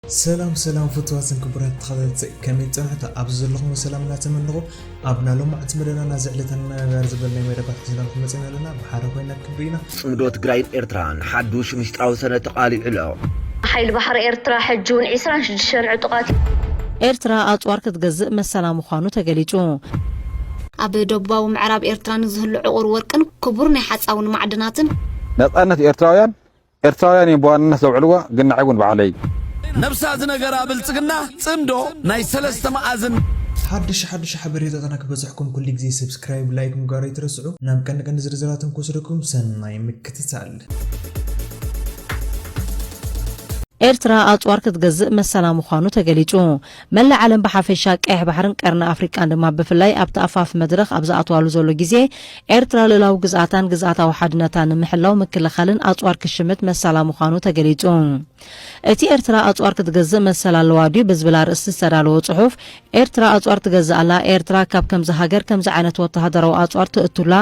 ሰላም ሰላም ፍትዋትን ክቡራት ተኸታተልቲ ከመይ ጸናሕታ ኣብዚ ዘለኹም ሰላም እናተመነኹ ኣብ ናሎማዕቲ መደናና ዝዕለታ ንመመብያር ዝበል ናይ መደባት ሒዝናልኩም መጺና ኣለና ብሓደ ኮይና ክንርኢ ኢና ጽምዶ ትግራይን ኤርትራን ሓዱሽ ምስጢራዊ ሰነድ ተቃሊዑ ኣሎ። ሓይሊ ባሕሪ ኤርትራ ሕጂ እውን ዕስራን ሽዱሽተን ዕጡቓት። ኤርትራ ኣጽዋር ክትገዝእ መሰላ ምዃኑ ተገሊጹ። ኣብ ደቡባዊ ምዕራብ ኤርትራ ንዝህሉ ዕቑር ወርቅን ክቡር ናይ ሓጻውን ማዕድናትን። ነጻነት ኤርትራውያን ኤርትራውያን እዮም ብዋንነት ዘውዕልዎ ግን ንዓይ ውን ባዕለይ። ነብሳ ዝነገራ ብልጽግና ጽምዶ ናይ ሰለስተ መኣዝን። ሓድሽ ሓድሽ ሓበሬታትና ክበጽሕኩም ኩሉ ግዜ ሰብስክራይብ ላይክ ምግባር ኣይትረስዑ ናብ ቀንዲ ቀንዲ ዝርዝራትን ክወስደኩም ሰናይ ምክትታል። ኤርትራ ኣጽዋር ክትገዝእ መሰላ ምዃኑ ተገሊጹ። መላእ ዓለም ብሓፈሻ፣ ቀይሕ ባሕርን ቀርኒ ኣፍሪቃን ድማ ብፍላይ ኣብቲ ኣፋፍ መድረኽ ኣብ ዝኣትዋሉ ዘሎ ግዜ፣ ኤርትራ ልኡላዊ ግዝኣታን ግዝኣታዊ ሓድነታን ንምሕላው ምክልኻልን ኣጽዋር ክሽምት መሰላ ምዃኑ ተገሊጹ። እቲ ኤርትራ ኣጽዋር ክትገዝእ መሰል ኣለዋ ድዩ ብዝብል ኣርእስቲ ዝተዳለወ ጽሑፍ፣ ኤርትራ ኣጽዋር ትገዝእ ኣላ፣ ኤርትራ ካብ ከምዚ ሃገር ከምዚ ዓይነት ወተሃደራዊ ኣጽዋር ትእቱላ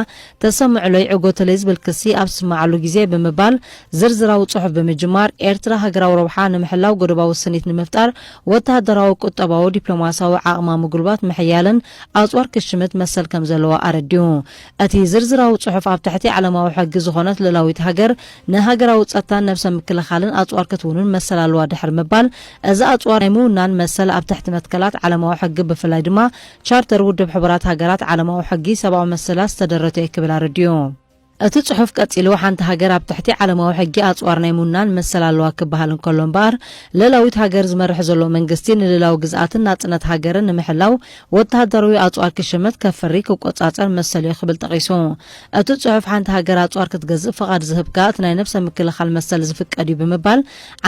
ተሰምዕሎ ይዕጎተለይ ዝብል ክሲ ኣብ ዝስመዓሉ ግዜ ብምባል ዝርዝራዊ ጽሑፍ ብምጅማር፣ ኤርትራ ሃገራዊ ረብሓ ንምሕላው ጎዶባዊ ስኒት ንምፍጣር ወተሃደራዊ፣ ቁጠባዊ፣ ዲፕሎማስያዊ ዓቕማ ምጉልባት፣ ምሕያልን ኣጽዋር ክሽምት መሰል ከም ዘለዋ ኣረዲኡ። እቲ ዝርዝራዊ ጽሑፍ ኣብ ትሕቲ ዓለማዊ ሕጊ ዝኾነት ልኡላዊት ሃገር ንሃገራዊ ጸጥታን ነብሰ ምክልኻልን ኣጽዋር ክትውንን መሰል ኣለዋ ድሕሪ ምባል እዚ ኣጽዋር ናይ ምውናን መሰል ኣብ ትሕቲ መትከላት ዓለማዊ ሕጊ ብፍላይ ድማ ቻርተር ውድብ ሕቡራት ሃገራት ዓለማዊ ሕጊ ሰብኣዊ መሰላት ዝተደረተ'ዩ ክብል ኣረዲኡ። እቲ ጽሑፍ ቀጺሉ፣ ሓንቲ ሃገር ኣብ ትሕቲ ዓለማዊ ሕጊ ኣጽዋር ናይ ምውናን መሰል ኣለዋ ክበሃል እንከሎ እምበኣር፣ ልእላዊት ሃገር ዝመርሕ ዘሎ መንግስቲ ንልእላዊ ግዝኣትን ናጽነት ሃገርን ንምሕላው ወተሃደርዊ ኣጽዋር ክሽምት፣ ከፍሪ፣ ክቆጻጸር መሰልዮ ክብል ጠቒሱ። እቲ ጽሑፍ ሓንቲ ሃገር ኣጽዋር ክትገዝእ ፍቓድ ዝህብካ እቲ ናይ ነብሰ ምክልኻል መሰል ዝፍቀድዩ ብምባል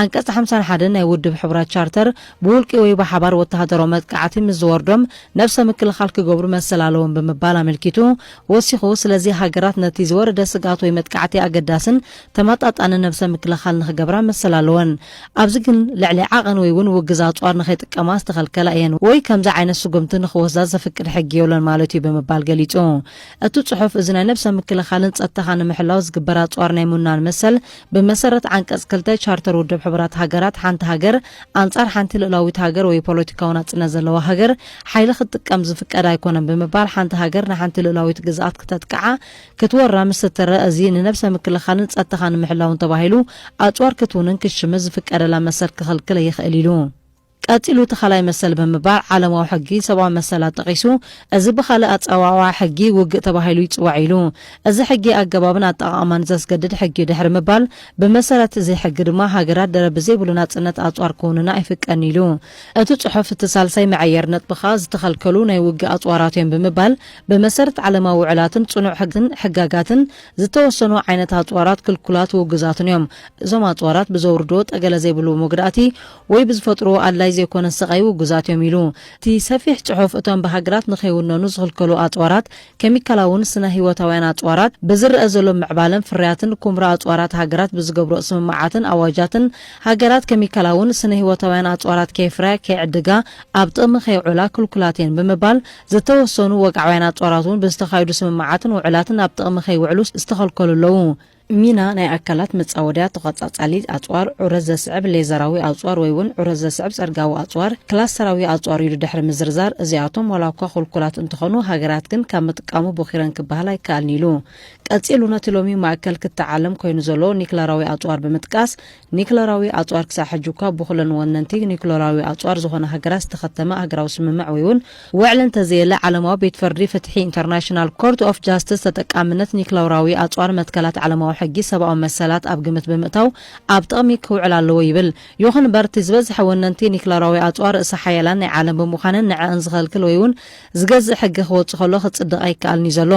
ዓንቀጽ ሓምሳን ሓደን ናይ ውድብ ሕቡራት ቻርተር ብውልቂ ወይ ብሓባር ወተሃደራዊ መጥቃዕቲ ምስ ዝወርዶም ነብሰ ምክልኻል ክገብሩ መሰል ኣለዎም ብምባል ኣመልኪቱ ወሲኹ፣ ስለዚ ሃገራት ነቲ ዝወረደ ስግኣት ወይ መጥቃዕቲ ኣገዳስን ተመጣጣንን ነብሰ ምክልኻል ንኽገብራ መሰል ኣለወን። ኣብዚ ግን ልዕሊ ዓቐን ወይ እውን ውግዝ ኣጽዋር ንኸይጥቀማ ዝተኸልከላ እየን ወይ ከምዚ ዓይነት ስጉምቲ ንኽወስዳ ዘፍቅድ ሕጊ የሎን ማለት እዩ ብምባል ገሊጹ። እቲ ጽሑፍ እዚ ናይ ነብሰ ምክልኻልን ጸጥታኻ ንምሕላው ዝግበር ኣጽዋር ናይ ምውናን መሰል ብመሰረት ዓንቀጽ ክልተ ቻርተር ውድብ ሕቡራት ሃገራት፣ ሓንቲ ሃገር ኣንጻር ሓንቲ ልኡላዊት ሃገር ወይ ፖለቲካዊ ናጽነት ዘለዋ ሃገር ሓይሊ ክትጥቀም ዝፍቀድ ኣይኮነን ብምባል ሓንቲ ሃገር ንሓንቲ ልኡላዊት ግዝኣት ክተጥቅዓ፣ ክትወራ፣ ምስ እትረእ እዚ ንነብሰ ምክልኻልን ጸጥታኻ ንምሕላውን ተባሂሉ ኣጽዋር ክትውንን ክትሽምት ዝፍቀደላ መሰል ክኽልክል ይኽእል ኢሉ። ቀጺሉ እቲ ካልኣይ መሰል ብምባል ዓለማዊ ሕጊ ሰብኣዊ መሰላት ጠቒሱ፣ እዚ ብኻልእ ኣጸዋውዓ ሕጊ ውግእ ተባሂሉ ይጽዋዕ ኢሉ። እዚ ሕጊ ኣገባብን ኣጠቓቕማን ዘስገድድ ሕጊ'ዩ ድሕሪ ምባል፣ ብመሰረት እዚ ሕጊ ድማ ሃገራት ደረት ብዘይብሉ ናጽነት ኣጽዋር ክውንና ኣይፍቀድን ኢሉ። እቲ ጽሑፍ እቲ ሳልሳይ መዐየሪ ነጥቢ ከኣ ዝተኸልከሉ ናይ ውግእ ኣጽዋራት'ዮም ብምባል፣ ብመሰረት ዓለማዊ ውዕላትን ጽኑዕ ሕግን ሕጋጋትን ዝተወሰኑ ዓይነት ኣጽዋራት ክልኩላት ውጉዛትን'ዮም፣ እዞም ኣጽዋራት ብዘውርድዎ ጠገለ ዘይብሉ መጉዳእቲ፣ ወይ ብዝፈጥርዎ ኣድላዪ ዘይኮነ ስቓይ ውጉዛት እዮም ኢሉ። እቲ ሰፊሕ ጽሑፍ፣ እቶም ብሃገራት ንኸይውነኑ ዝኽልከሉ ኣጽዋራት፣ ከሚካላውን ስነ-ህይወታውያን ኣጽዋራት፣ ብዝረኣ ዘሎ ምዕባለን ፍርያትን ኩምራ ኣጽዋራት ሃገራት ብዝገብርኦ ስምምዓትን ኣዋጃትን፣ ሃገራት ከሚካላውን ስነ-ህይወታውያን ኣጽዋራት ከየፍረያ፣ ከይዕድጋ፣ ኣብ ጥቕሚ ከየውዕላ ክልኩላት እየን ብምባል፣ ዝተወሰኑ ወግዓውያን ኣጽዋራት'ውን ብዝተኻየዱ ስምምዓትን ውዕላትን ኣብ ጥቕሚ ከይውዕሉ ዝተኸልከሉ ኣለዉ። ሚና ናይ ኣካላት መጻወድያ ተቐጻጻሊ ኣጽዋር፣ ዑረት ዘስዕብ ሌዘራዊ ኣጽዋር ወይ'ውን ዑረት ዘስዕብ ጸርጋዊ ኣጽዋር፣ ክላስተራዊ ኣጽዋር ኢሉ ድሕሪ ምዝርዛር፣ እዚኣቶም ዋላ'ኳ ክልኩላት እንተኾኑ ሃገራት ግን ካብ ምጥቃሙ ቦኺረን ክበሃል ኣይከኣልን ኢሉ። ቀጺሉ ነቲ ሎሚ ማእከል ክትዕ ዓለም ኮይኑ ዘሎ ኒክለራዊ ኣጽዋር ብምጥቃስ፣ ኒክለራዊ ኣጽዋር ክሳዕ ሕጂ እኳ ብኹለን ወነንቲ ኒክለራዊ ኣጽዋር ዝኾና ሃገራት ዝተኸተመ ኣህግራዊ ስምምዕ ወይውን ወዕል እንተዘየለ፣ ዓለማዊ ቤት ፍርዲ ፍትሒ ኢንተርናሽናል ኮርት ኦፍ ጃስትስ ተጠቃምነት ኒክለራዊ ኣጽዋር መትከላት ዓለማዊ ሕጊ ሰብኣዊ መሰላት ኣብ ግምት ብምእታው ኣብ ጥቕሚ ክውዕል ኣለዎ ይብል። ይኹን እምበር እቲ ዝበዝሐ ወነንቲ ኒክለራዊ ኣጽዋር ርእሰ ሓያላን ናይ ዓለም ብምዃነን ንዐኣን ዝኸልክል ወይውን ዝገዝእ ሕጊ ክወጽእ ከሎ ክጽድቕ ኣይከኣልን እዩ ዘሎ።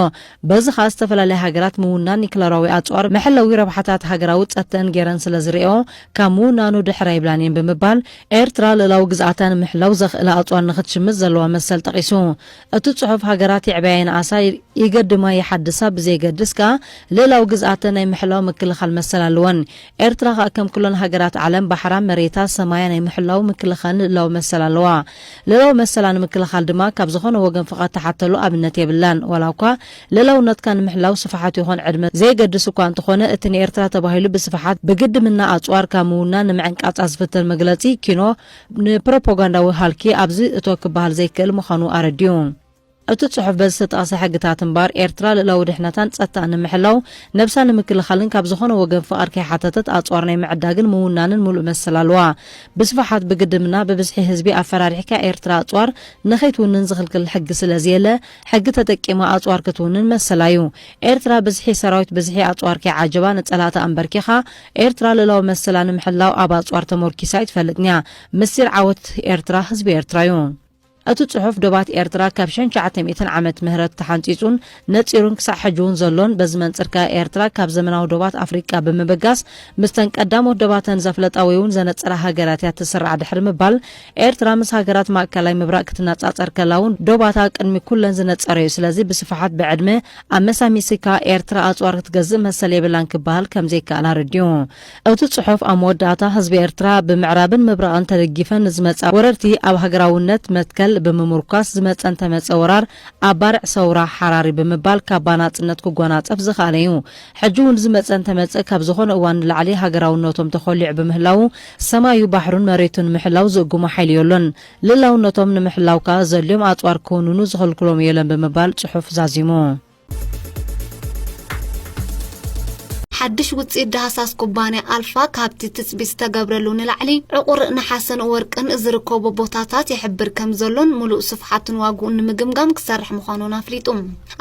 በዚ ከኣ ዝተፈላለያ ሃገራት ምውናን ኒክለራዊ ኣጽዋር መሐለዊ ረብሓታት ሃገራዊ ጸተን ገይረን ስለ ዝርእኦ ካብ ምውናኑ ድሕር ኣይብላን እየን ብምባል ኤርትራ ልእላዊ ግዝኣታ ንምሕላው ዘኽእላ ኣጽዋር ንኽትሽምት ዘለዋ መሰል ጠቒሱ እቲ ጽሑፍ ሃገራት የዕብያ የንኣሳ ይገድማ ይሓድሳ ብዘየገድስ ከኣ ልእላዊ ግዝኣተን ናይ ምሕላው ምክልኻል መሰል ኣለወን ኤርትራ ከኣ ከም ኩለን ሃገራት ዓለም ባሕራ፣ መሬታ፣ ሰማያ ናይ ምሕላው፣ ምክልኻልን ልእላዊ መሰል ኣለዋ። ልእላዊ መሰላ ንምክልኻል ድማ ካብ ዝኾነ ወገን ፍቓድ ትሓተሉ ኣብነት የብላን። ዋላ እኳ ልእላውነትካ ንምሕላው ስፍሓት ይኾን ዕድመ ዘየገድስ እኳ እንተኾነ እቲ ንኤርትራ ተባሂሉ ብስፍሓት ብግድምና ኣጽዋርካ ምውናን ንምዕንቃጻ ዝፍተን መግለጺ ኪኖ ንፕሮፖጋንዳዊ ሃልኪ ኣብዚ እቶ ክበሃል ዘይክእል ምዃኑ ኣረዲኡ። እቲ ጽሑፍ በዚ ዝተጠቕሰ ሕግታት እምበኣር ኤርትራ ልእላዊ ድሕነታን ጸጥታኣን ንምሕላው፣ ነብሳ ንምክልኻልን ካብ ዝኾነ ወገን ፍቓድ ከይሓተተት ኣጽዋር ናይ ምዕዳግን ምውናንን ምሉእ መሰል ኣለዋ። ብስፍሓት ብግድምና ብብዝሒ ህዝቢ ኣፈራሪሕካ ኤርትራ ኣጽዋር ንኸይትውንን ዝኽልክል ሕጊ ስለዝየለ፣ ሕጊ ተጠቂማ ኣጽዋር ክትውንን መሰላ እዩ። ኤርትራ ብዝሒ ሰራዊት ብዝሒ ኣጽዋር ከይዓጀባ ንጸላእቲ ኣምበርኪኻ ኤርትራ ልእላዊ መሰላ ንምሕላው ኣብ ኣጽዋር ተሞርኪሳ ኣይትፈልጥንያ። ምስጢር ዓወት ኤርትራ ህዝቢ ኤርትራዩ። እቲ ጽሑፍ ዶባት ኤርትራ ካብ ሸንሸዓተ ሚእትን ዓመት ምህረት ተሓንጺጹን ነጺሩን ክሳዕ ሕጂውን ዘሎን በዚ መንጽር ከኣ ኤርትራ ካብ ዘመናዊ ዶባት ኣፍሪቃ ብምብጋስ ምስተን ቀዳሞት ዶባተን ዘፍለጣ ወይውን ዘነጸራ ሃገራት እያ ትስራዕ ድሕሪ ምባል ኤርትራ ምስ ሃገራት ማእከላይ ምብራቅ ክትነጻጸር ከላውን ዶባታ ቅድሚ ኩለን ዝነጸረ እዩ ስለዚ ብስፍሓት ብዕድመ ኣመሳሚስካ ኤርትራ ኣጽዋር ክትገዝእ መሰል የብላን ክበሃል ከምዘይከኣል ኣረዲኡ። እቲ ጽሑፍ ኣብ መወዳእታ፣ ህዝቢ ኤርትራ ብምዕራብን ምብራቕን ተደጊፈን ንዝመጻ ወረርቲ ኣብ ሃገራውነት መትከል ብምሙርኳስ ዝመጸ እንተመጸ ወራር ኣብ ባርዕ ሰውራ ሓራሪ ብምባል ካባ ናጽነት ክጎናጸፍ ዝኸኣለ'ዩ። ሕጂ'ውን ዝመጸ እንተመጸ ካብ ዝኾነ እዋን ንላዕሊ ሃገራውነቶም ተኾሊዑ ብምህላዉ ሰማዩ ባሕሩን መሬቱን ንምሕላው ዝእጉሞ ሓይሊ ዮሎን። ልእላውነቶም ንምሕላው ከኣ ዘልዮም ኣጽዋር ክውንኑ ዝኽልክሎም ዮለን ብምባል ጽሑፍ ዛዚሙ። ሓድሽ ውፅኢት ዳህሳስ ኩባንያ ኣልፋ ካብቲ ትፅቢት ዝተገብረሉ ንላዕሊ ዕቑር ነሓስን ወርቅን ዝርከቦ ቦታታት ይሕብር ከም ዘሎን ሙሉእ ስፍሓቱን ዋግኡን ንምግምጋም ክሰርሕ ምዃኑን ኣፍሊጡ።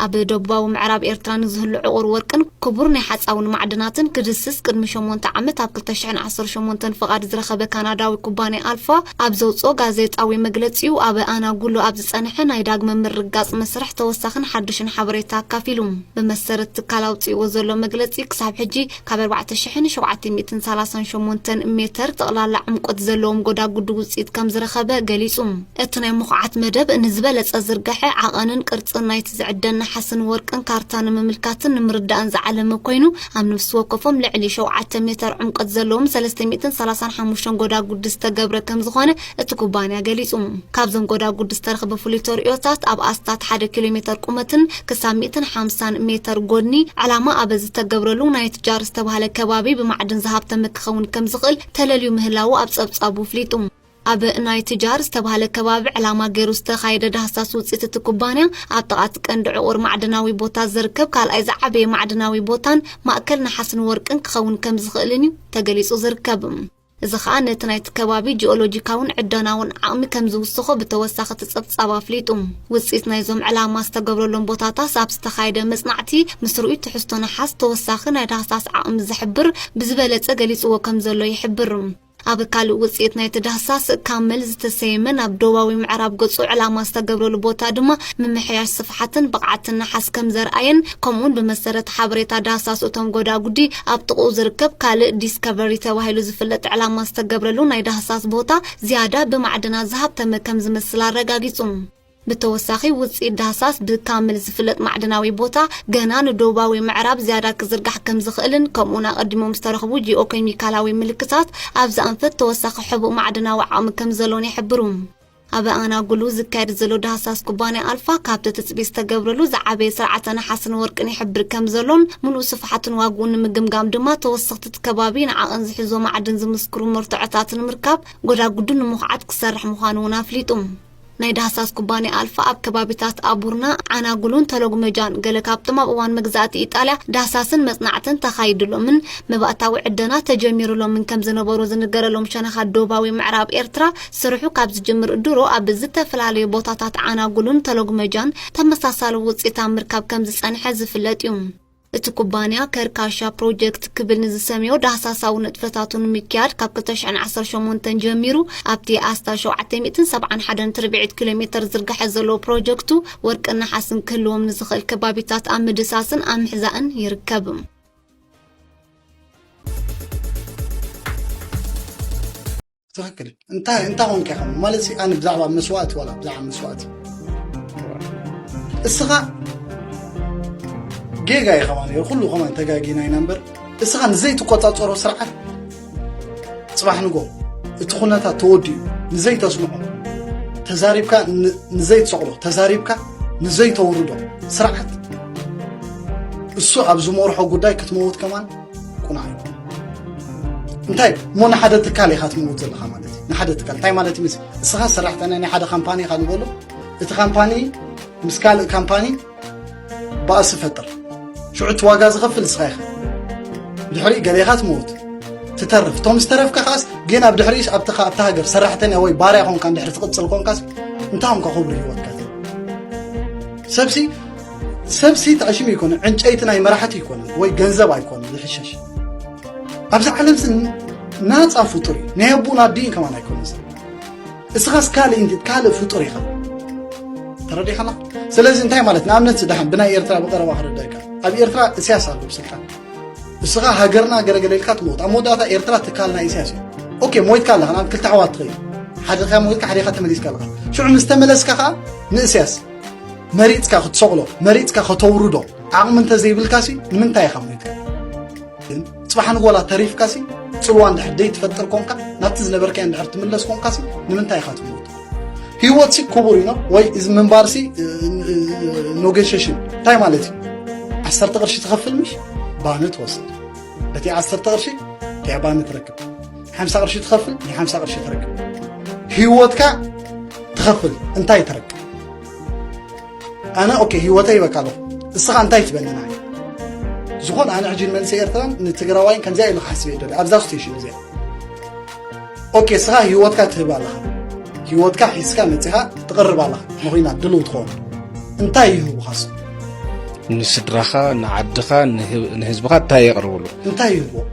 ኣብ ደቡባዊ ምዕራብ ኤርትራ ንዝህሉ ዕቑር ወርቅን ክቡር ናይ ሓፃውን ማዕድናትን ክድስስ ቅድሚ ሸሞንተ ዓመት ኣብ ክልተ ሽሕን ዓሰርተ ሸሞንተን ፍቓድ ዝረኸበ ካናዳዊ ኩባንያ ኣልፋ ኣብ ዘውፅኦ ጋዜጣዊ መግለፂኡ ኣብ ኣናጉሉ ኣብ ዝጸንሐ ናይ ዳግመ ምርግጋጽ መስርሕ ተወሳኽን ሓዱሽን ሓበሬታ ኣካፊሉ። ብመሰረት ትካል ኣውጺእዎ ዘሎ መግለጺ ክሳብ ሕጂ ካብ ኣርባዕተ ሽሕን ሸውዓተ ሚእትን ሰላሳን ሸሞንተን ሜተር ጠቕላላ ዕምቆት ዘለዎም ጎዳጉዲ ውጽኢት ከም ዝረኸበ ገሊጹ። እቲ ናይ ምኹዓት መደብ ንዝበለጸ ዝርገሐ ዓቐንን ቅርጽን ናይቲ ዝዕደን ነሓስን ወርቅን ካርታ ንምምልካትን ንምርዳእን ዝዓለመ ኮይኑ ኣብ ነፍሲ ወከፎም ልዕሊ ሸውዓተ ሜተር ዕምቆት ዘለዎም ሰለስተ ሚእትን ሰላሳን ሓሙሽተን ጎዳጉዲ ዝተገብረ ከም ዝኾነ እቲ ኩባንያ ገሊጹ። ካብዞም ጎዳጉድ ዝተረኽበ ፍሉይ ተርእዮታት፣ ኣብ ኣስታት ሓደ ኪሎ ሜተር ቁመትን ክሳብ ሚእትን ሓምሳን ሜተር ጎድኒ ዕላማ ኣበ ዝተገብረሉ ናይት ጃር ዝተባህለ ከባቢ ብማዕድን ዝሃብተመ ክኸውን ከምዝኽእል ተለልዩ ምህላዉ ኣብ ጸብጻቡ ኣፍሊጡ። ኣብ ናይት ጃር ዝተባህለ ከባቢ ዕላማ ገይሩ ዝተኻየደ ዳህሳስ ውጽኢት እቲ ኩባንያ፣ ኣብ ጥቓ እቲ ቀንዲ ዕቑር ማዕድናዊ ቦታ ዝርከብ ካልኣይ ዝዓበየ ማዕድናዊ ቦታን ማእከል ነሓስን ወርቅን ክኸውን ከምዝኽእልን እዩ ተገሊጹ ዝርከብ። እዚ ከኣ ነቲ ናይቲ ከባቢ ጂኦሎጂካውን ዕደናውን ዓቕሚ ከም ዝውስኾ ብተወሳኺ እቲ ጸብጻብ ኣፍሊጡ። ውጽኢት ናይዞም ዕላማ ዝተገብረሎም ቦታታስ ኣብ ዝተኻየደ መጽናዕቲ ምስ ርኡይ ትሕዝቶ ነሓስ ተወሳኺ ናይ ዳህሳስ ዓቕሚ ዝሕብር ብዝበለጸ ገሊጽዎ ከም ዘሎ ይሕብር። ኣብ ካልእ ውጽኢት ናይቲ ዳህሳስ ካመል ዝተሰየመ ናብ ደቡባዊ ምዕራብ ገጹ ዕላማ ዝተገብረሉ ቦታ ድማ ምምሕያሽ ስፍሓትን ብቕዓትን ነሓስ ከም ዘርኣየን ከምኡ'ውን ብመሰረት ሓበሬታ ዳህሳስ እቶም ጎዳጉዲ፣ ኣብ ጥቕኡ ዝርከብ ካልእ ዲስከቨሪ ተባሂሉ ዝፍለጥ ዕላማ ዝተገብረሉ ናይ ዳህሳስ ቦታ፣ ዝያዳ ብማዕድናት ዝሃብተመ ከም ዝመስል ኣረጋጊጹ። ብተወሳኺ፣ ውጽኢት ዳህሳስ ብካምል ዝፍለጥ ማዕድናዊ ቦታ፣ ገና ንዶባዊ ምዕራብ ዝያዳ ክዝርጋሕ ከም ዝኽእልን ከምኡ'ውን ኣቐዲሞም ዝተረኽቡ ጂኦኬሚካላዊ ምልክታት፣ ኣብዚ ኣንፈት ተወሳኺ ሕቡእ ማዕድናዊ ዓቕሚ ከም ዘሎን ይሕብሩ። ኣብ ኣናጉሉ ዝካየድ ዘሎ ዳህሳስ ኩባንያ ኣልፋ ካብቲ ትጽቢት ዝተገብረሉ ዝዓበየ ስርዓተ ነሓስን ወርቅን ይሕብር ከም ዘሎን ምሉእ ስፍሓቱን ዋግኡን ንምግምጋም ድማ ተወሰኽቲት ከባቢን ዓቕን ዝሕዞ ማዕድን ዝምስክሩ መርትዖታት ንምርካብ ጎዳጉዱ ንምኹዓት ክሰርሕ ምዃኑ እውን ኣፍሊጡ። ናይ ዳህሳስ ኩባንያ ኣልፋ ኣብ ከባቢታት ኣቡርና፣ ዓናጉሉን ተሎግመጃን ገለ ካብቶም ኣብ እዋን መግዛእቲ ኢጣልያ ዳህሳስን መጽናዕትን ተኻይድሎምን መባእታዊ ዕደና ተጀሚሩሎምን ከም ዝነበሩ ዝንገረሎም ሸነኻት ዶባዊ ምዕራብ ኤርትራ ስርሑ ካብ ዝጅምር ድሮ ኣብ ዝተፈላለዩ ቦታታት ዓናጉሉን ተሎግመጃን ተመሳሳሊ ውፅኢት ኣብ ምርካብ ከምዝፀንሐ ዝፍለጥ ዩ። እቲ ኩባንያ ከርካሻ ፕሮጀክት ክብል ንዝሰምዮ ዳህሳሳዊ ንጥፈታቱ ንምክያድ ካብ ክልተ ሽሕን ዓሰርተ ሸሞንተን ጀሚሩ ኣብቲ ኣስታት ሸውዓተ ሚእትን ሰብዓን ሓደን ትርብዒት ኪሎ ሜተር ዝርጋሐ ዘለዎ ፕሮጀክቱ ወርቅን ነሓስን ክህልዎም ንዝኽእል ከባቢታት ኣብ ምድሳስን ኣብ ምሕዛእን ይርከብ። ትክክል እንታይ እንታይ ኮንከ ከም ማለት ኣነ ብዛዕባ መስዋእቲ ዋላ ብዛዕባ መስዋእቲ እስኻ ጌጋ እዩ ከማ ነሩ ኩሉ ከማ ተጋጊና ኢና እምበር እስኻ ንዘይትቆፃፀሮ ስርዓት ፅባሕ ንጎ እቲ ኩነታት ተወዲኡ ንዘይተስምዖ ተዛሪብካ ንዘይትሰቕሎ ተዛሪብካ ንዘይተውርዶ ስርዓት እሱ ኣብ ዝመርሖ ጉዳይ ክትመውት ከማን ቁናዕ ይኹን እንታይ እሞ ንሓደ ትካል ኢኻ ትምውት ዘለኻ ማለት እዩ ንሓደ ትካል እንታይ ማለት እዩ ምስ እስኻ ሰራሕተኛ ናይ ሓደ ካምፓኒ ኢኻ ንበሎ እቲ ካምፓኒ ምስ ካልእ ካምፓኒ ባእሲ ፈጥር ሽዑ እቲ ዋጋ ዝኸፍል እስኻ ኢኻ ድሕሪ ገሌኻ ትመውት ትተርፍ እቶም ዝተረፍካ ከዓስ ግን ኣብ ድሕሪ ኣብቲ ኣብቲ ሃገር ሰራሕተኛ ወይ ባርያ ኮንካ ድሕሪ ትቕፅል ኮንካስ እንታይ ኮንካ ክብሪ ሂወትካ ሰብሲ ሰብሲ ተዕሽም ይኮነ ዕንጨይቲ ናይ መራሕቲ ይኮነ ወይ ገንዘብ ኣይኮነ ዝሕሸሽ ኣብዚ ዓለም ስ ናፃ ፍጡር እዩ ናይ ኣቡን ኣዲን ከማን ኣይኮነ ሰብ እስኻስ ካልእ ንቲ ካልእ ፍጡር ኢኻ ተረዲኻና ስለዚ እንታይ ማለት ንኣብነት ስዳሕን ብናይ ኤርትራ ብቀረባ ክረዳእካ ኣብ ኤርትራ እስያስ ኣሎ ብስልጣን እስኻ ሃገርና ገለገለ ኢልካ ትመውት ኣብ መወዳእታ ኤርትራ ትካል ናይ እስያስ እዩ ኦኬ ሞይትካ ኣለኻ ናብ ክልተ ኣሕዋት ትኸይድ ሓደኻ ሞይትካ ሓደኻ ተመሊስካ ኣለኻ ሽዑ ምስ ተመለስካ ከዓ ንእስያስ መሪጽካ ክትሰቕሎ መሪጽካ ከተውርዶ ዓቕሚ እንተዘይብልካሲ ንምንታይ ኢኻ ሞይትካ ግን ጽባሕ ንጎላ ተሪፍካሲ ጽልዋ እንድሕር ደይትፈጥር ኮንካ ናብቲ ዝነበርካዮ እንድሕር ትምለስ ኮንካሲ ንምንታይ ኢኻ ትመውት ህይወትሲ ክቡር እዩ ወይ እዚ ምንባርሲ ኖጌሽሽን እንታይ ማለት እዩ ዓሰርተ ቅርሺ ትኸፍል ምሽ ባኒ ትወስድ እቲ ዓሰርተ ቅርሺ ከያ ባኒ ትረክብ ሓምሳ ቅርሺ ትኸፍል ናይ ሓምሳ ቅርሺ ትረክብ ህይወትካ ትኸፍል እንታይ ትረክብ ኣነ ኦኬ ህይወተ ይበካ ኣለኹ እስኻ እንታይ ትበለና ዝኾነ ኣነ ሕጂ መንእሰይ ኤርትራን ንትግራዋይን ከምዚኣ ኢሉ ክሓስብ እየ ኣብዛ ስቴሽን እዚኣ ኦኬ እስኻ ህይወትካ ትህብ ኣለኻ ህይወትካ ሒዝካ መፂኻ ትቕርብ ኣለኻ ንኹናት ድልው ትኸውን እንታይ ይህቡኻ ስ ንስድራኻ ንዓድኻ ንህዝብኻ እንታይ የቕርብሉ እንታይ ይህብዎ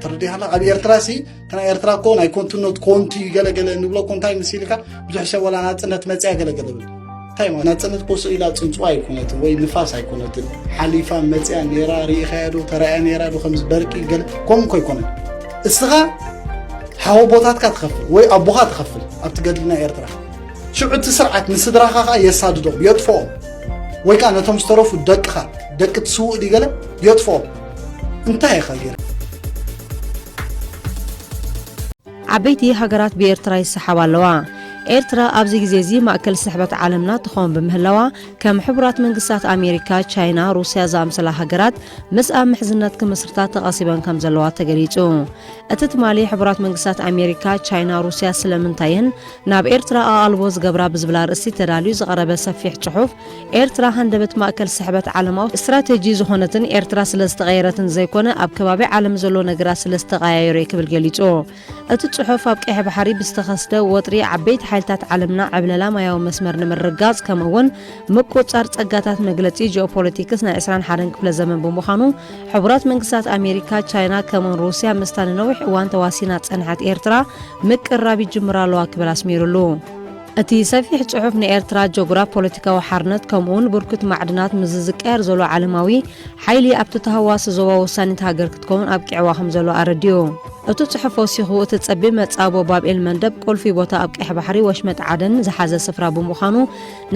ተረዲኻና ኣብ ኤርትራ ሲ እቲ ናይ ኤርትራ እኮ ናይ ኮንትነት ኮንቱ እዩ ገለገለ ንብሎ እኮ እንታይ ምስ ኢልካ ብዙሕ ሰብ ወላ ናፅነት መፅያ ገለገለ ብል እንታይ ማለት ናፅነት ኮሶ ኢላ ፅንፅዋ ኣይኮነትን ወይ ንፋስ ኣይኮነትን ሓሊፋ መፅያ ነራ ርኢኻያ ዶ ተራእያ ነራ ዶ ከምዚ በርቂ ገለ ከምኡ እኮ ኣይኮነን እስኻ ሓወ ቦታትካ ትኸፍል ወይ ኣቦኻ ትኸፍል ኣብቲ ገድልና ኤርትራ ሽዑ እቲ ስርዓት ንስድራኻ ከዓ የሳድዶም የጥፍኦም ወይ ከዓ ነቶም ዝተረፉ ደቅኻ ደቂ ትስውእ ድዩ ገለ የጥፍኦም እንታይ ይኸይር? ዓበይቲ ሃገራት ብኤርትራ ይሰሓባ ኣለዋ። ኤርትራ ኣብዚ ግዜ እዚ ማእከል ስሕበት ዓለምና ትኸውን ብምህላዋ ከም ሕቡራት መንግስታት ኣሜሪካ፣ ቻይና፣ ሩስያ ዝኣምሰላ ሃገራት ምስኣ ምሕዝነት ክምስርታ ተቐሲበን ከም ዘለዋ ተገሊጹ። እቲ ትማሊ ሕቡራት መንግስታት ኣሜሪካ፣ ቻይና፣ ሩስያ ስለምንታየን ናብ ኤርትራ ኣቓልቦ ዝገብራ ብዝብል ኣርእስቲ ተዳልዩ ዝቐረበ ሰፊሕ ጽሑፍ ኤርትራ ሃንደበት ማእከል ስሕበት ዓለማዊ ስትራተጂ ዝኾነትን ኤርትራ ስለ ዝተቐየረትን ዘይኮነ ኣብ ከባቢ ዓለም ዘሎ ነገራት ስለ ዝተቐያየሩ'የ ክብል ገሊጹ። እቲ ጽሑፍ ኣብ ቀይሕ ባሕሪ ብዝተኸስተ ወጥሪ ዓበይቲ ሓይልታት ዓለምና ዕብለላ ማያዊ መስመር ንምርግጋጽ ከምኡ'ውን ምቁጽጻር ጸጋታት መግለጺ ጂኦፖለቲክስ ናይ ዕስራን ሓደን ክፍለ ዘመን ብምዃኑ ሕቡራት መንግስታት ኣሜሪካ፣ ቻይና ከምኡ'ውን ሩስያ ምስታ ንነዊሕ እዋን ተዋሲና ዝጸንሐት ኤርትራ ምቅርራብ ይጅምራ ኣለዋ ክብል ኣስሚሩሉ። እቲ ሰፊሕ ጽሑፍ ንኤርትራ ጀጉራፍ ፖለቲካዊ ሓርነት ከምኡውን ብርኩት ማዕድናት ምስዚ ዝቀያር ዘሎ ዓለማዊ ሓይሊ ኣብቲ ተሃዋሲ ዞባ ወሳኒት ሃገር ክትከውን ኣብቂዕዋ ከም ዘሎ ኣረዲኡ። እቲ ጽሑፍ ወሲኹ እቲ ጸቢብ መጻቦ ባብ ኤል መንደብ ቁልፊ ቦታ ኣብ ቀይሕ ባሕሪ ወሽመጥ ዓደን ዝሓዘ ስፍራ ብምዃኑ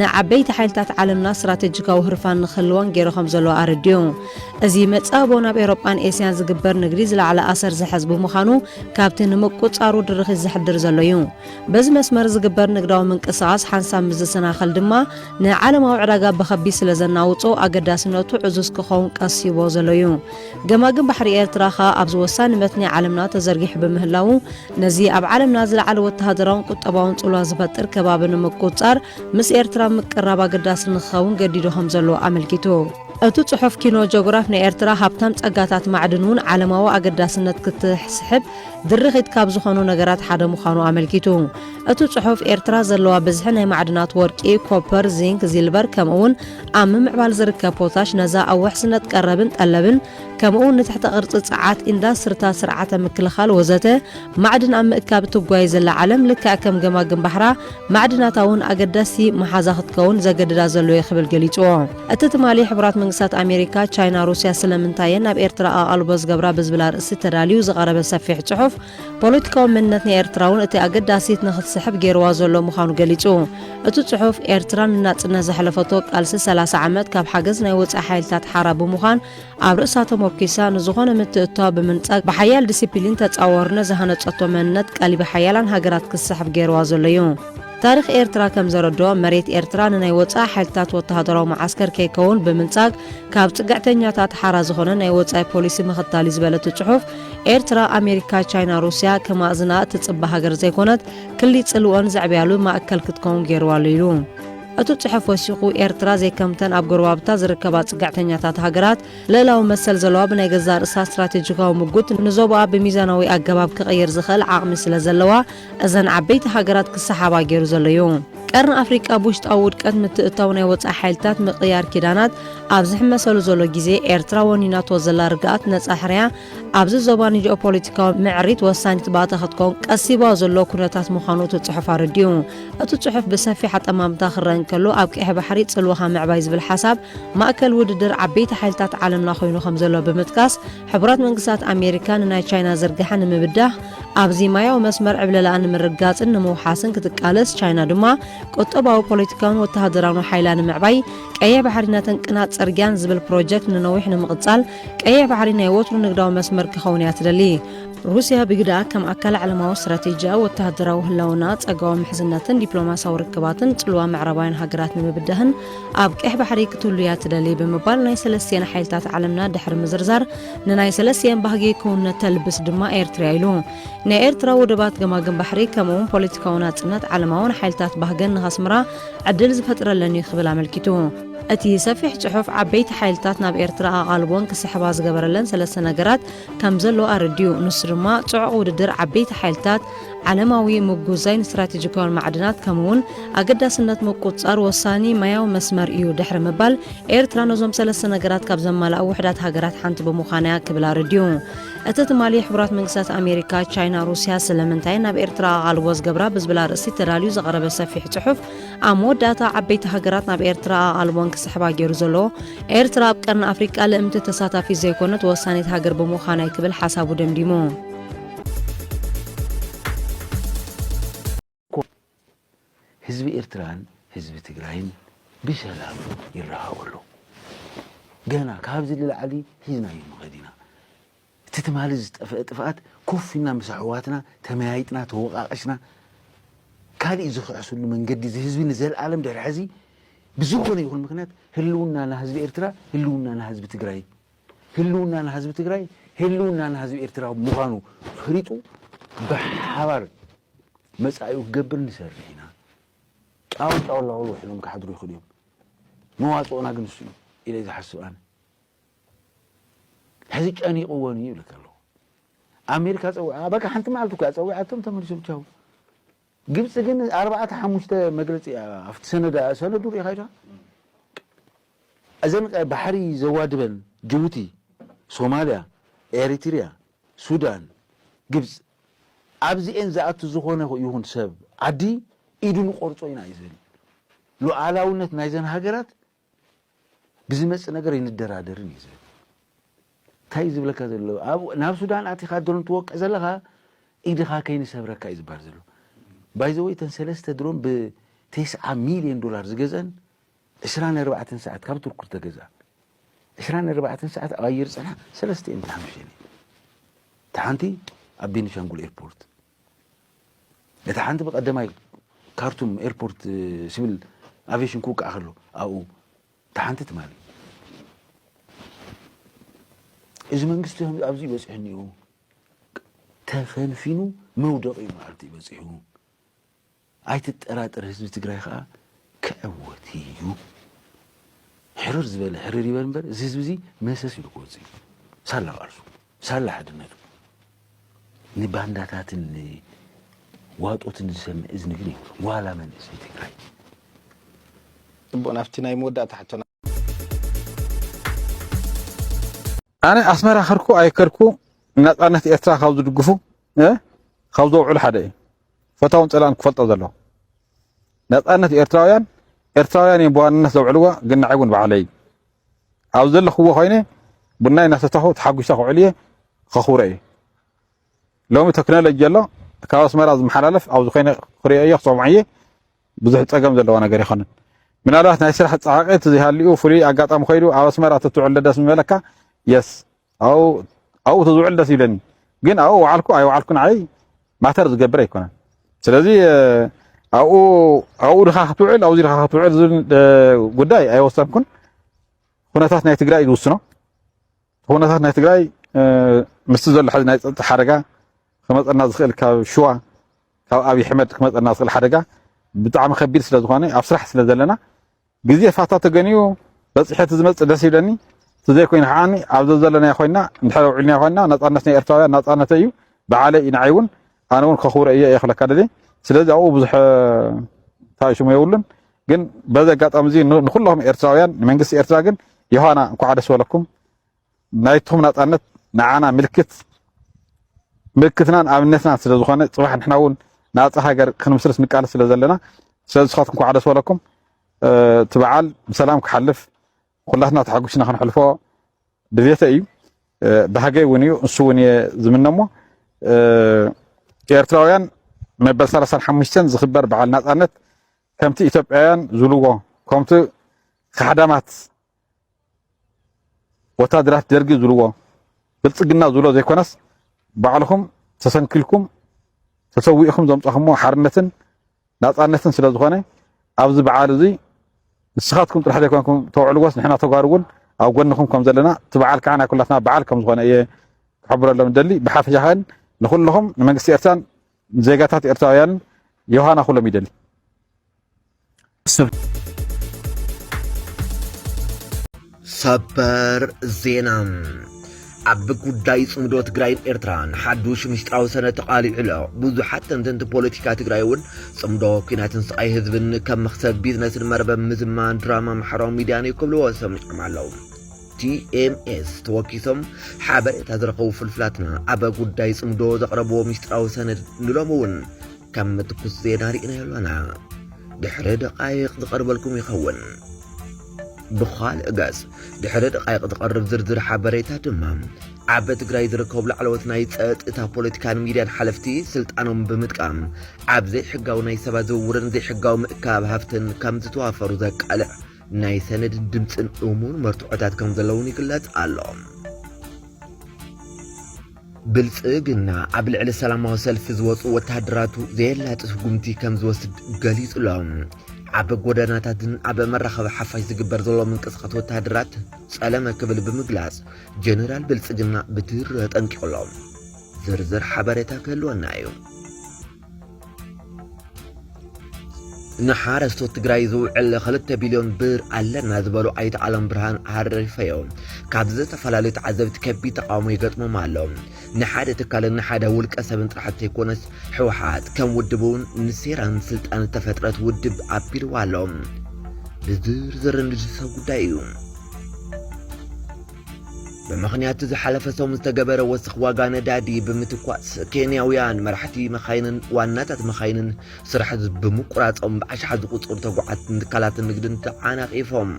ንዓበይቲ ሓይልታት ዓለምና ስትራቴጂካዊ ህርፋን ንክህልወን ገይሩ ከም ዘሎ ኣረዲኡ። እዚ መጻቦ ናብ ኤውሮጳን ኤስያን ዝግበር ንግዲ ዝለዓለ ኣሰር ዝሕዝ ብምዃኑ ካብቲ ንምቁጽጻሩ ድርኺት ዘሕድር ዘሎ እዩ። በዚ መስመር ዝግበር ንግዳዊ ምንቅስቓስ ሓንሳብ ምስ ዝሰናኸል ድማ ንዓለማዊ ዕዳጋ ብኸቢድ ስለ ዘናውጾ ኣገዳስነቱ ዕዙዝ ክኸውን ቀሲቦ ዘሎ እዩ። ገማግም ባሕሪ ኤርትራ ከኣ ኣብዚ ወሳኒ መትኒ ዓለምና ተዘርጊሑ ብምህላዉ ነዚ ኣብ ዓለምና ዝለዓለ ወተሃደራውን ቁጠባውን ጽልዋ ዝፈጥር ከባቢ ንምቁጽጻር ምስ ኤርትራ ምቅራብ ኣገዳሲ ንክኸውን ገዲዱ ከም ዘሎ ኣመልኪቱ። እቲ ጽሑፍ ኪኖ ጆግራፍ ንኤርትራ ሃብታም ጸጋታት ማዕድን እውን ዓለማዊ ኣገዳስነት ክትስሕብ ድርኺት ካብ ዝኾኑ ነገራት ሓደ ምዃኑ ኣመልኪቱ። እቱ ጽሑፍ ኤርትራ ዘለዋ ብዝሒ ናይ ማዕድናት ወርቂ፣ ኮፐር፣ ዚንክ፣ ዚልቨር ከምኡ እውን ኣብ ምምዕባል ዝርከብ ፖታሽ ነዛ ኣብ ውሕስነት ቀረብን ጠለብን ከምኡ እውን ንትሕተ ቅርጺ ጸዓት፣ ኢንዳስትርታት፣ ስርዓተ ምክልኻል ወዘተ ማዕድን ኣብ ምእካብ እትጓዩ ዘላ ዓለም ልክዕ ከም ገማግም ባሕራ ማዕድናታ እውን ኣገዳሲ መሓዛ ክትከውን ዘገድዳ ዘሎ እዩ ክብል ገሊጽዎ። እቲ ትማሊ ሕቡራት መንግስታት ኣሜሪካ፣ ቻይና፣ ሩስያ ስለምንታይ እየን ናብ ኤርትራ ኣቓልቦ ዝገብራ ብዝብል ኣርእስቲ ተዳልዩ ዝቐረበ ሰፊሕ ጽሑፍ፣ ፖለቲካዊ መንነት ናይ ኤርትራ'ውን እቲ ኣገዳሲት ንኽትስሕብ ገይሩዋ ዘሎ ምዃኑ ገሊጹ። እቲ ጽሑፍ፣ ኤርትራ ንናጽነት ዘሕለፈቶ ቃልሲ ሰላሳ ዓመት ካብ ሓገዝ ናይ ወጻኢ ሓይልታት ሓራ ብምዃን፣ ኣብ ርእሳ ተሞርኪሳ ንዝኾነ ምትእትታው ብምንጻግ ብሓያል ዲሲፒሊን ተጻዋሩ ነዚ ሃነጸቶ መንነት ቀልቢ ሓያላን ሃገራት ክስሕብ ገይርዋ ዘሎ'ዩ። ታሪኽ ኤርትራ ከም ዘረድኦ መሬት ኤርትራ ንናይ ወጻኢ ሓይልታት ወተሃደራዊ መዓስከር ከይከውን ብምንጻግ ካብ ጽግዕተኛታት ሓራ ዝኾነ ናይ ወጻኢ ፖሊሲ ምኽታል'ዩ ዝበለ እቲ ጽሑፍ ኤርትራ ኣሜሪካ ቻይና ሩስያ ከማእዝና እትጽበ ሃገር ዘይኮነት ክሊ ጽልወን ዘዕብያሉ ማእከል ክትከውን ገይርዋ ኣሎ ኢሉ። እቲ ጽሑፍ ወሲኹ፣ ኤርትራ ዘይከምተን ኣብ ጎረባብታ ዝርከባ ጽግዕተኛታት ሃገራት፣ ልእላዊ መሰል ዘለዋ ብናይ ገዛእ ርእሳ ስትራቴጂካዊ ምጉት ንዞባኣ ብሚዛናዊ ኣገባብ ክቕይር ዝኽእል ዓቕሚ ስለ ዘለዋ እዘን ዓበይቲ ሃገራት ክሰሓባ ገይሩ ዘሎ እዩ። ቀርኒ ኣፍሪቃ ብውሽጣዊ ውድቀት፣ ምትእትታው ናይ ወጻኢ ሓይልታት፣ ምቕያር ኪዳናት ኣብ ዝሕመሰሉ ዘሎ ግዜ፣ ኤርትራ ወኒናቶ ዘላ ርግኣት፣ ነጻ ሕርያ፣ ኣብዚ ዞባ ንጂኦፖለቲካዊ ምዕሪት ወሳኒት ባእታ ክትከውን ቀሲባ ዘሎ ኩነታት ምዃኑ እቲ ጽሑፍ ኣረዲኡ። እቲ ጽሑፍ ብሰፊሕ ኣጠማምታ ክረአ እንከሎ፣ ኣብ ቀይሕ ባሕሪ ጽልዋኻ ምዕባይ ዝብል ሓሳብ ማእከል ውድድር ዓበይቲ ሓይልታት ዓለምና ኮይኑ ከም ዘሎ ብምጥቃስ፣ ሕቡራት መንግስታት ኣሜሪካ ንናይ ቻይና ዝርግሐ ንምብዳህ ኣብዚ ማያዊ መስመር ዕብለላኣ ንምርግጋጽን ንምውሓስን ክትቃለስ፣ ቻይና ድማ ቁጠባዊ፣ ፖለቲካውን ወተሃደራውን ሓይላ ንምዕባይ ቀይሕ ባሕሪ ነተን ቅናት ጽርግያን ዝብል ፕሮጀክት ንነዊሕ ንምቕጻል ቀይሕ ባሕሪ ናይ ወትሩ ንግዳዊ መስመር ክኸውን እያ ትደሊ። ሩስያ ብግደኣ፣ ከም ኣካል ዓለማዊ ስትራቴጂኣ፣ ወተሃደራዊ ህላወንኣ፣ ጸጋዊ ምሕዝነትን ዲፕሎማስያዊ ርክባትን ጽልዋ ምዕራባውያን ሃገራት ንምብዳህን ኣብ ቀይሕ ባሕሪ ክትህሉ እያ ትደሊ ብምባል ናይ ሰለስቲኤን ሓይልታት ዓለምና ድሕሪ ምዝርዛር ንናይ ሰለስቲኤን ባህጊ ክውንነት ተልብስ ድማ ኤርትርያ ኢሉ። ናይ ኤርትራ ወደባት ገማግም ባሕሪ ከምኡ'ውን ፖለቲካዊ ናጽነት ዓለማውን ሓይልታት ባህገን ንኸስምራ ዕድል ዝፈጥረለን እዩ ክብል ኣመልኪቱ። እቲ ሰፊሕ ጽሑፍ ዓበይቲ ሓይልታት ናብ ኤርትራ ኣቓልቦን ክስሕባ ዝገበረለን ሰለስተ ነገራት ከም ዘሎ ኣረዲኡ። ንሱ ድማ ጽዑቕ ውድድር ዓበይቲ ሓይልታት፣ ዓለማዊ ምጉዛይን ስትራቴጂካውያን ማዕድናት ከምኡ'ውን ኣገዳስነት ምቁጽጻር ወሳኒ ማያዊ መስመር እዩ ድሕሪ ምባል፣ ኤርትራ ነዞም ሰለስተ ነገራት ካብ ዘማልኣ ውሑዳት ሃገራት ሓንቲ ብምዃና'ያ ክብል ኣረዲኡ። እቲ ትማሊ ሕቡራት መንግስታት ኣሜሪካ፣ ቻይና፣ ሩስያ ስለምንታየን ናብ ኤርትራ ኣቓልቦ ዝገብራ ብዝብል ኣርእስቲ ተዳልዩ ዝቐረበ ሰፊሕ ጽሑፍ፣ ኣብ መወዳእታ ዓበይቲ ሃገራት ናብ ኤርትራ ኣቓልቦን ክስሕባ ገይሩ ዘሎ ኤርትራ ኣብ ቀርኒ ኣፍሪቃ ልእምቲ ተሳታፊት ዘይኮነት ወሳኒት ሃገር ብምዃናይ ክብል ሓሳቡ ደምዲሙ። ህዝቢ ኤርትራን ህዝቢ ትግራይን ብሰላም ይራኸቡ ኣለዉ። ገና ካብዚ ንላዕሊ ሒዝናዮ መኸድ ኢና። እቲ ትማሊ ዝጠፈእ ጥፍኣት ኮፍ ኢልና ምስ ኣሕዋትና ተመያይጥና ተወቃቂስና ካሊእ ዝክሕስሉ መንገዲ እዚ ህዝቢ ንዘልኣለም ድሕሪ ሕዚ ብዝኮነ ይኩን ምክንያት ህልውናና ህዝቢ ኤርትራ ህልውናና ህዝቢ ትግራይ ህልውናና ህዝቢ ትግራይ ህልውናና ህዝቢ ኤርትራ ምኳኑ ፈሊጡ ብሓባር መጻኢኡ ክገብር ንሰርሕ ኢና ጫውጫውላውል ውሒሎም ክሓድሩ ይክእሉ እዮም መዋጽኦና ግን ንሱ እዩ ኢለ ዝሓስብ ኣነ ሕዚ ጨኒቕወን እዩ ይብለካ ኣለኹ። ኣሜሪካ ፀዊዓ በቃ ሓንቲ መዓልቲ እኮ እያ ፀዊዓቶም ተመሊሶም ቻው። ግብፂ ግን ኣርባዕተ ሓሙሽተ መግለፂ እያ ኣብቲ ሰነዳ ሰነዱ ሪኢኻ ኢኻ እዘን ባሕሪ ዘዋድበን ጅቡቲ፣ ሶማልያ፣ ኤሪትሪያ፣ ሱዳን፣ ግብፂ ኣብዚኤን ዝኣቱ ዝኾነ ይኹን ሰብ ዓዲ ኢዱ ንቆርፆ ኢና እዩ ዝብል። ሉዓላውነት ናይዘን ሃገራት ብዝመጽእ ነገር ኣይንደራደርን እዩ ዝብል እንታይ ዝብለካ ዘሎ ናብ ሱዳን ኣቲኻ ድሮን ትወቅዕ ዘለኻ ኢድኻ ከይንሰብረካ እዩ ዝበሃል ዘሎ ባይዘወይ እተን ሰለስተ ድሮን ብቴስዓ ሚልዮን ዶላር ዝገዘን ዕስራን ኣርባዕተን ሰዓት ካብ ቱርኩ ዝተገዝኣ ዕስራን ኣርባዕተን ሰዓት ኣብ ኣየር ፀንሓ ሰለስተ እየን ተሓምሸን እየን እቲ ሓንቲ ኣብ ቤኒሻንጉል ኤርፖርት እታ ሓንቲ ብቀደማይ ካርቱም ኤርፖርት ሲቪል ኣቬሽን ክውቃዕ ከሎ ኣብኡ እታ ሓንቲ ትማሊ እዚ መንግስቲ ከምዚ ኣብዚ ይበፅሕ እኒኡ ተፈንፊኑ መውደቂ መዓልቲ ይበፂሑ ኣይትጠራጠር ህዝቢ ትግራይ ኸኣ ክዕወት ኢዩ። ሕርር ዝበለ ሕርር ይበል እምበር እዚ ህዝቢ እዚ መሰስ ኢሉ ክወጽእ ኢዩ። ሳላ ቃልሱ ሳላ ሓድነቱ ንባንዳታትን ንዋጦትን ዝሰምዕ እዝኒ ግን የብሉን ዋላ መንእሰይ ትግራይ። ጽቡቕ ናብቲ ናይ መወዳእታ ሕቶና። ኣነ ኣስመራ ከርኩ ኣይከርኩ ናጻነት ኤርትራ ካብ ዝድግፉ ካብ ዘውዕሉ ሓደ እዩ ፈታውን ጸላን ክፈልጦ ዘለዎ ናጻነት ኤርትራውያን ኤርትራውያን እዮም ብዋንነት ዘውዕልዋ ግን ንዓይ እውን ባዕለይ ኣብ ዘለኽዎ ኮይነ ቡናይ እናሰተኹ ተሓጒሰ ክውዕል እየ ከኽብሮ እዩ ሎሚ ቴክኖሎጂ ኣሎ ካብ ኣስመራ ዝመሓላለፍ ኣብዚ ኮይነ ክሪኦ እየ ክሰምዖ እየ ብዙሕ ጸገም ዘለዎ ነገር ይኸንን ምናልባት ናይ ስራሕ ጻዕቂ ትዝሃልኡ ፍሉይ ኣጋጣሚ ኮይዱ ኣብ ኣስመራ ትትውዕል ደስ ምበለካ የስ ኣው ኣው ትዝውዕል ደስ ይብለኒ ግን ኣው ወዓልኩ ኣይወዓልኩ ንዓይ ማተር ዝገብር ኣይኮነን ስለዚ ኣብኡ ኣብኡ ድኻ ክትውዕል ኣብዚ ድኻ ክትውዕል ዝብል ጉዳይ ኣይወሰንኩን ኩነታት ናይ ትግራይ ዝውስኖ ኩነታት ናይ ትግራይ ምስቲ ዘሎ ሕዚ ናይ ፀጥታ ሓደጋ ክመፀና ዝኽእል ካብ ሽዋ ካብ ኣብይ ሕመድ ክመፀና ዝኽእል ሓደጋ ብጣዕሚ ከቢድ ስለ ዝኾነ ኣብ ስራሕ ስለ ዘለና ግዜ ፋታ ተገንዩ በፂሐ ዝመፅእ ደስ ይብለኒ ተዘይኮይኑ ከዓኒ ኣብ ዘዘለናዮ ኮይና እንድሕር ውዒልና ኮይና ነፃነት ናይ ኤርትራውያን ናፃነተ እዩ በዓለ እዩ ንዓይ እውን ኣነ እውን ከኽብሮ እየ እየ ክለካ ደልየ ስለዚ ኣብኡ ብዙሕ እንታይ ሽሙ የብሉን ግን በዚ ኣጋጣሚ እዚ ንኩላኹም ኤርትራውያን ንመንግስቲ ኤርትራ ግን ዮሃና እንኳዕ ደስ በለኩም ናይትኹም ናፃነት ንዓና ምልክት ምልክትናን ኣብነትናን ስለ ዝኾነ ፅባሕ ንሕና እውን ናፃ ሃገር ክንምስርት ንቃለስ ስለ ዘለና ስለዚ ስኻትኩም እንኳዕ ደስ በለኩም እቲ በዓል ብሰላም ክሓልፍ ኩላትና ተሓጉስና ክንሕልፎ ድሌተ እዩ ባህገይ እውን እዩ ንሱ እውን እየ ዝምነሞ ኤርትራውያን መበል 35 ዝኽበር በዓል ናፃነት ከምቲ ኢትዮጵያውያን ዝብልዎ ከምቲ ካሕዳማት ወታደራት ደርጊ ዝብልዎ ብልፅግና ዝብሎ ዘይኮነስ ባዕልኹም ተሰንኪልኩም ተሰዊእኹም ዘምፀኹምዎ ሓርነትን ናጻነትን ስለ ዝኾነ ኣብዚ በዓል እዚ ንስኻትኩም ጥራሕ ዘይኮንኩም ተውዕልዎስ ንሕና ተጓሩ እውን ኣብ ጎንኹም ከም ዘለና እቲ በዓል ከዓ ናይ ኩላትና በዓል ከም ዝኾነ እየ ክሕብረሎም እደሊ ብሓፈሻ ከን ንኩልኹም ንመንግስቲ ኤርትራን ዜጋታት ኤርትራውያንን ዮሃና ኩሎም ይደሊ ሰበር ዜና ኣብ ጉዳይ ጽምዶ ትግራይን ኤርትራን ሓዱሽ ምስጢራዊ ሰነድ ተቓሊዑ ኣሎ። ብዙሓት ተንተንቲ ፖለቲካ ትግራይ እውን ጽምዶ ኩናትን ስቓይ ህዝብን ከም መኽሰብ ቢዝነስን መርበብ ምዝማን ድራማ ማሕበራዊ ሚድያን እዩ ክብልዎ ሰሚዖም ኣለዉ። ቲኤምኤስ ተወኪሶም ሓበሬታ ዝረኸቡ ፍልፍላትና ኣብ ጉዳይ ጽምዶ ዘቕረብዎ ምስጢራዊ ሰነድ ንሎሚ እውን ከም ትኩስ ዜና ርኢናዮ ኣሎና። ድሕሪ ደቓይቕ ዝቐርበልኩም ይኸውን። ብኻልእ ገጽ ድሕሪ ደቓይቕ ዝቐርብ ዝርዝር ሓበሬታ ድማ ኣብ ትግራይ ዝርከቡ ላዕለዎት ናይ ጸጥታ ፖለቲካን ሚድያን ሓለፍቲ ስልጣኖም ብምጥቃም ኣብ ዘይሕጋዊ ናይ ሰባት ዝውውርን ዘይሕጋዊ ምእካብ ሃፍትን ከም ዝተዋፈሩ ዘቃልዕ ናይ ሰነድን ድምፅን እሙን መርትዖታት ከም ዘለውን ይግለጽ ኣሎ። ብልጽግና ኣብ ልዕሊ ሰላማዊ ሰልፊ ዝወጹ ወተሃደራቱ ዘየላጢ ስጉምቲ ከም ዝወስድ ገሊጹ ኣሎ። ኣብ ጎደናታትን ኣብ መራኸቢ ሓፋሽ ዝግበር ዘሎ ምንቅስቓስ ወተሃደራት ጸለመ ክብል ብምግላጽ ጀነራል ብልጽግና ብትሪ ኣጠንቂቑ ኣሎ። ዝርዝር ሓበሬታ ክህልወና እዩ። ንሓረስቶት ትግራይ ዝውዕል ክልተ ቢልዮን ብር ኣለና ዝበሉ ኣይተ ዓለም ብርሃን ኣሪፈዮ ካብ ዝተፈላለዩ ተዓዘብቲ ከቢድ ተቃውሞ ይገጥሞም ኣሎ። ንሓደ ትካልን ንሓደ ውልቀ ሰብን ጥራሕ ዘይኮነስ ህወሓት ከም ውድብ እውን ንሴራን ስልጣን ዝተፈጥረት ውድብ ኣቢልዋ ኣሎ። ብዝርዝር እንድሰብ ጉዳይ እዩ። ብምኽንያት እቲ ዝሓለፈ ሰሙን ዝተገበረ ወስኽ ዋጋ ነዳዲ ብምትኳስ ኬንያውያን መራሕቲ መኻይንን ዋናታት መኻይንን ስራሕ ብምቁራጾም ብኣሽሓት ዝቑጸሩ ተጓዓዝትን ትካላት ንግድን ተዓናቒፎም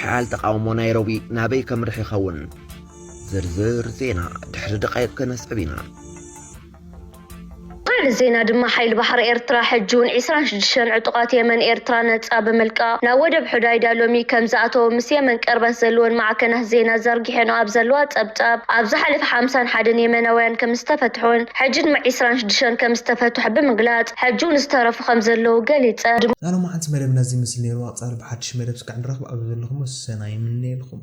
ሓያል ተቃውሞ ናይሮቢ ናበይ ከምርሕ ይኸውን ዝርዝር ዜና ድሕሪ ደቃይቕ ከነስዕብ ኢና። ካልእ ዜና ድማ ሓይሊ ባሕሪ ኤርትራ ሕጂውን ዕስራን ሽዱሽተን ዕጡቓት የመን ኤርትራ ነጻ ብምልቃቕ ናብ ወደብ ሑዳይዳ ሎሚ ከምዝኣተወ ምስ የመን ቅርበት ዘለወን ማዕከናት ዜና ዘርጊሐንኦ ኣብ ዘለዋ ጸብጻብ ኣብ ዝሓለፈ ሓምሳን ሓደን የመናውያን ከምዝተፈትሑን ሕጂ ድማ ዕስራን ሽዱሽተን ከምዝተፈትሑ ብምግላጽ ሕጂውን ዝተረፉ ከምዘለዉ ገሊጸ። ናይ ሎማዓንቲ መደብና እዚ ይመስል ነይሩ። ኣብ ቐፃሊ ብሓዱሽ መደብ ስከዕ ንራኽብ ኣብዚ ዘለኹሞ ሰናይ ይምነየልኹም።